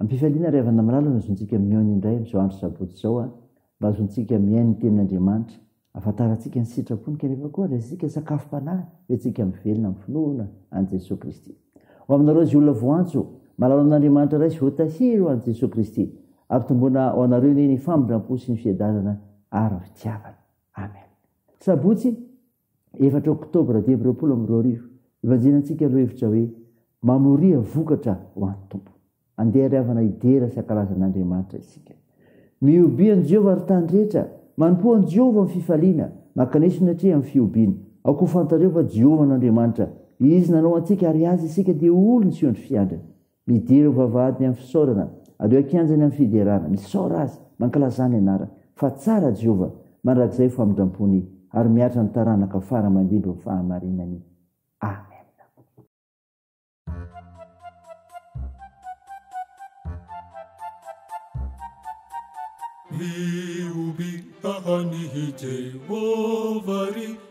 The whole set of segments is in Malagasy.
Ampifaliana ry havana malala no azontsika mihaona indray amin'izao andro sabotsy izao a! Mba azontsika mihaino ny tenin'Andriamanitra, ahafantarantsika ny sitrapony kanefa koa andraisantsika sakafom-panahy entintsika mivelona amin'ny finoana an'i Jesoa Kristy. Ho aminareo izay olona voantso, malala amin'Andriamanitra Ray sy voatahiry ho an'i Jesoa Kristy. Ampitomboina ho anareo anie ny famindram-po sy ny fiadanana ary ny fitiavana. Amen. Sabotsy. efatra oktobra dimy amby roapolo amby roa arivo, ivanjinantsika ny lohahevitra hoe, Mamoria vokatra ho an'ny Tompo. Andeha ry havana hidera sy hankalaza an'Andriamanitra isika. Mihobia an'i Jehovah ry tany rehetra, manompoa an'i Jehovah amin'ny fifaliana, mankanesona atreha amin'ny fihobiana. Aoka ho fantareo fa Jehovah no Andriamanitra, izy nanao antsika ary azy isika dia olony sy ondry fiandriny. Midira ho vavahady ny amin'ny fisaorana. Aleo an-kianjany amin'ny fiderana. Misaora Azy, mankalazà ny Anarany. Fa tsara Jehovah, mandrakizay famindram-pony, ary mihatra ny taranaka fara aman-dimby ny fahamarinany. Amena. Mihoby haha an'i Jehovah ry.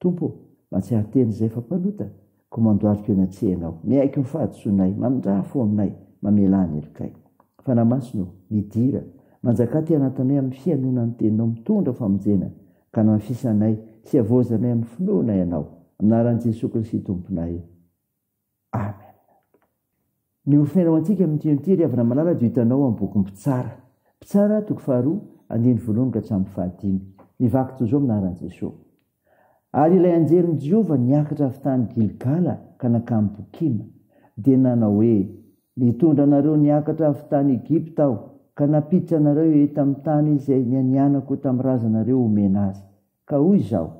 Tompo ô, mahatsiaro tena izay efa mpanota, koa mandohalika eo eny an-tsehanao. Miaiky ny fahadisoanay, mamindrà fo aminay, mamelà ny helokay. Fanahy Masina ô, midira, manjakà aty anatinay amin'ny fihainoana ny Teninao mitondra famonjena, ka anamafisa anay sy havaozanay amin'ny finoana Ianao. Amin'ny anaran'i Jesoa Kristy Tomponay. Amen. Ny horesahinao antsika amin' ity hymn ity ry havana malala dia ho hitanao amin'ny bokin'ny Mpitsara. Mpitsara, toko faharoa, andininy voalohany ka hatramin'ny fahadimy. Ny vaky toy izao amin'ny anaran'i Jesoa. Ary ilay anjelin'i Jehovah niakatra avy tany Gilgala ka nankany Bokima, dia nanao hoe, Nitondra anareo niakatra avy tany Egypta aho, ka nampiditra anareo eto amin'ny tany izay nianianako tamin'ny razanareo homena azy. Ka hoy izaho,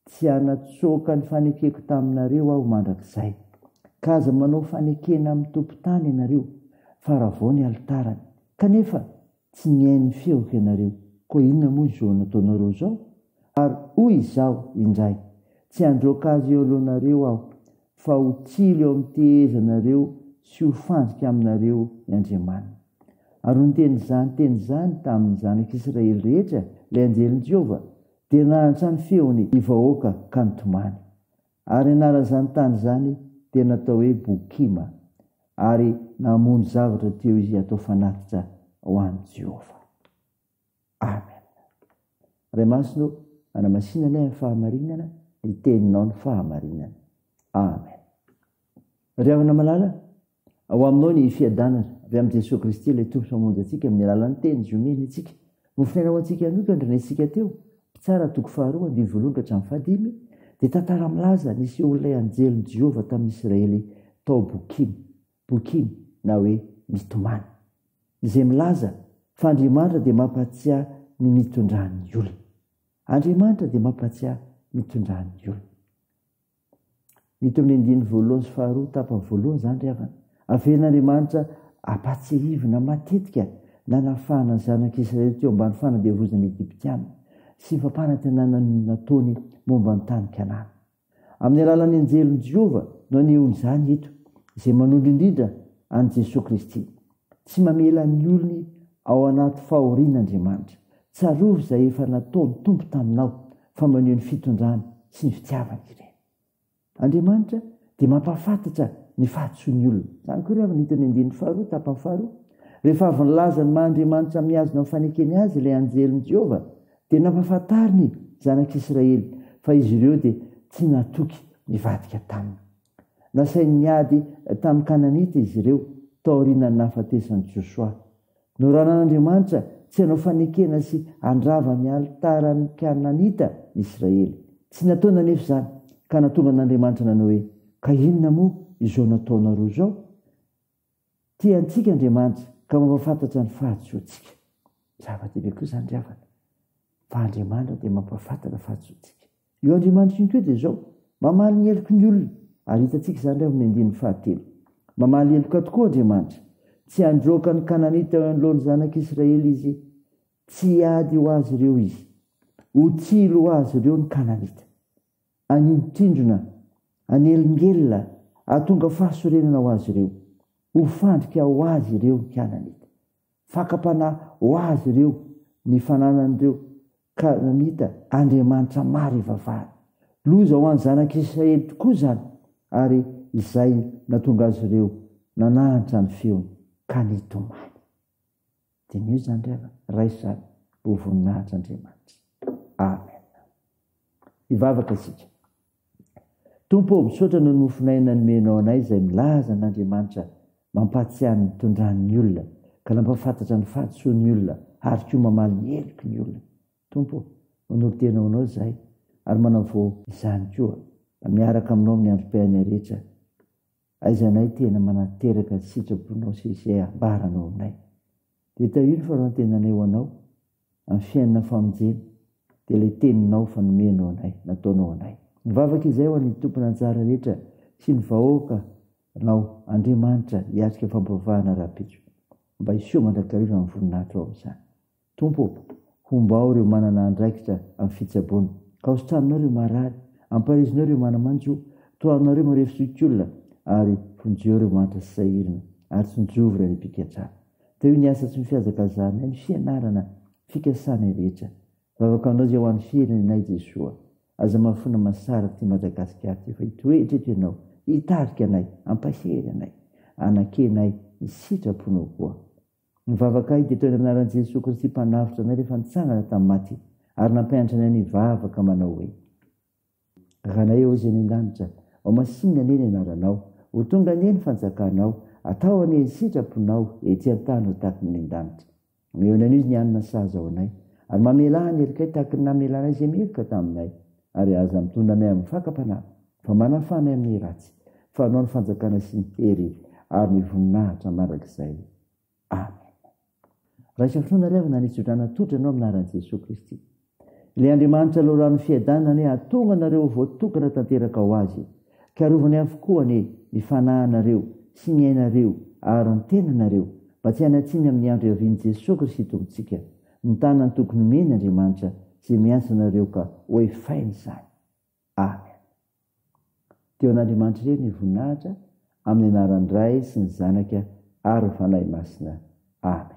Tsy hanatsoaka ny fanekeko taminareo aho mandrakizay. Ka aza manao fanekena amin'ny tompon-tany ianareo, fa ravao ny alitarany. Kanefa tsy nihaino ny feoko ianareo. Koa inona moa izao nataonareo izao? Ary hoy Izaho indray, Tsy handroaka azy eo alohanareo Aho, fa ho tsilo eo amin'ny tehezanareo sy ho fandrika aminareo ny Andriamaniny. Ary niteny izany teny izany tamin'ny zanak'Israely rehetra ilay anjelin'i Jehovah, Dia nahantra ny feony ny vahoaka ka nitomany. Ary anaran'izany tany izany dia natao hoe Bokima, ary namono zavatra teo izy hatao fanatitra ho an'i Jehovah. Amen. Ray Masina ô, anamasina anay amin'ny fahamarinana, ny Teninao ny fahamarinana. Amen. Ry havana malala, Ao Aminao ny fiadanana. Avy amin'i Jesoa Kristy ilay Tompo sy Mpamonjy antsika amin'ny alalan'ny Teniny izay omeny antsika. Nofonaina ho antsika hanokana ny renesintsika teo, Mpitsara toko faharoa andiany voalohany ka hatramin'ny fahadimy, dia tantara milaza ny nisehoan'ilay anjelin'i Jehovah tamin'ny Isiraely tao Bokim, Bokim, na hoe mitomany, izay milaza fa Andriamanitra dia mampahatsiahy ny mitondran'ny olona. Andriamanitra dia mampahatsiahy mitondran'ny olona. Hita eo amin'ny andininy voalohany sy faharoa, tapany voalohany izany ry havana. Avelan'Andriamanitra hampahatsiahivina matetika nanafahana ny Zanak'i Israely teo ambany fanandevozana ny Egyptiana sy ny fampanantenana nataony momba ny tany Kanana. Amin'ny alalan'ny anjelin'i Jehovah no anehoany izany eto, izay manondro indrindra an'i Jesoa Kristy. Tsy mamela ny olony ao anaty fahoriana Andriamanitra. Tsarovy izay efa nataon'ny Tompo taminao, fa maneho ny fitondrany sy ny fitiavany ireny. Andriamanitra dia mampahafantatra ny fahadisoan'ny olona. Izany koa re avy no hitan'ny andininy faharoa, tapany faharoa. Rehefa avy nilaza ny maha-Andriamanitra mihazona amin'ny fanekeny Azy ilay anjelin'i Jehovah, dia nampahafantariny ny zanak'Israely fa izy ireo dia tsy natoky nivadika taminy. Nasainy niady tamin'ny Kananita izy ireo taorian'ny nahafatesan'i Josoa. Noraran'Andriamanitra tsy hanao fanekena sy handrava ny alitaran'ny Kananita ny Israely. Tsy nataony anefa izany, ka nahatonga an'Andriamanitra nanao hoe, Ka inona moa izao nataonareo izao? Tia antsika Andriamanitra ka mampahafantatra ny fahadisoantsika. Zava-dehibe koa izany ry havana, fa Andriamanitra dia mampahafantatra ny fahadisoantsika. Io Andriamanitra io koa dia izao, mamaly ny heloky ny olona, ary hitantsika izany ry havana amin'ny andininy fahatelo. Mamaly heloka tokoa Andriamanitra. Tsy handroaka ny Kananita eo anoloan'ny zanak'Israely Izy. Tsy hiady ho azy ireo Izy. Ho tsilo ho azy ireo ny Kananita. Anindrindrona, anelingelina, ahatonga fahasorenana ho azy ireo. Ho fandrika ho azy ireo ny Kananita. Fakam-panahy ho azy ireo ny fananan'ireo Kananita andriamanitra maro ivavahana. Loza ho an'ny zanak'Israely tokoa izany ary izay nahatonga azy ireo nanahantra ny feony ka nitomany. Diniho izany ry havana. Raiso izany ho voninahitr'Andriamanitra. Amen. Hivavaka isika. Tompo ô, misaotra noho ny mofon'aina nomenao anay izay milaza an'Andriamanitra, mampahatsiahy ny nitondrany ny olona, ka nampahafantatra ny fahadisoany ny olona, ary koa mamaly ny heloky ny olona. Tompo ô, manolo-tena ho anao izahay, ary manavao izany koa, mba miaraka aminao amin'ny androm-piainanay rehetra. Aiza nay tena manateraka ny sitraponao sy izay ambaranao aminay. Dia tahio ny farantenanay ho anao amin'ny fiainana famonjena dia ilay teninao fa nomenao anay, nataonao anay. Mivavaka izay ho an'ny tompon'anjara rehetra sy ny vahoaka nao Andriamanitra hiatrika fampivavahana rahampitso. Mba hiseho mandrakariva ny voninahitro ao amin'izany. Tompo ô, hombao ireo manana andraikitra amin'ny fitsaboana. Kaositranonao ireo marary, amparizinao ireo mana-manjo, tohanonao ireo marefo sy otiolona, ary vonjeo ireo mahantra sy sahirana, ary tsinjovy ireo any am-pigadrana. Tahio ny asa tsy mifihazakazahanay, ny fianarana, ny fikasanay rehetra. Vavaka Aminao izay ho an'ny firenenay, Jesoa. Aza mahafoana masaraka ity Madagasikara ity, fa hitoetra eto Ianao, hitarika anay, hampahery anay. Anankianay ny sitraponao koa. Ny vavakay dia toetra anaran'i Jesoa Kristy Mpanavotra anay rehefa nitsangana tamin'ny maty ary nampianatra anay ny hivavaka manao hoe, Ranay ô izay any an-danitra, ho masinina anie ny anaranao, ho tonga anie ny fanjakanao, atao anie ny sitraponao ety an-tany ho tahaky ny any an-danitra. Mionona anio izy ny hanina sahaza ho anay ary mamela ny helokay tahaky ny namela anay izay meloka taminay ary aza mitondra anay amin'ny fakam-panahy. Fa manafana ahy amin'ny ratsy. Fa anao ny fanjakana sy ny hery ary ny voninahitra mandrakizay. Amen. Raisa finoana ry havana ny hitsodrana tolotra ianao amin'ny anaran'i Jesoa Kristy. Ilay Andriamanitra Loharanon'ny Fiadanana anie hahatonga anareo ho voatokana tanteraka ho Azy ka arovany avokoa anie ny fanahinareo sy ny ainareo ary ny tenanareo mba tsy hanatsiny amin'ny andro hiavian'i Jesoa Kristy Tompontsika. Mitana ny tokony omeny Andriamanitra izay miantso anareo ka oefaina izany. Amen. Dia ho an'Andriamanitra irery ny voninahitra amin'ny anaran'ny Ray sy ny Zanaka ary ny Fanahy Masina. Amen.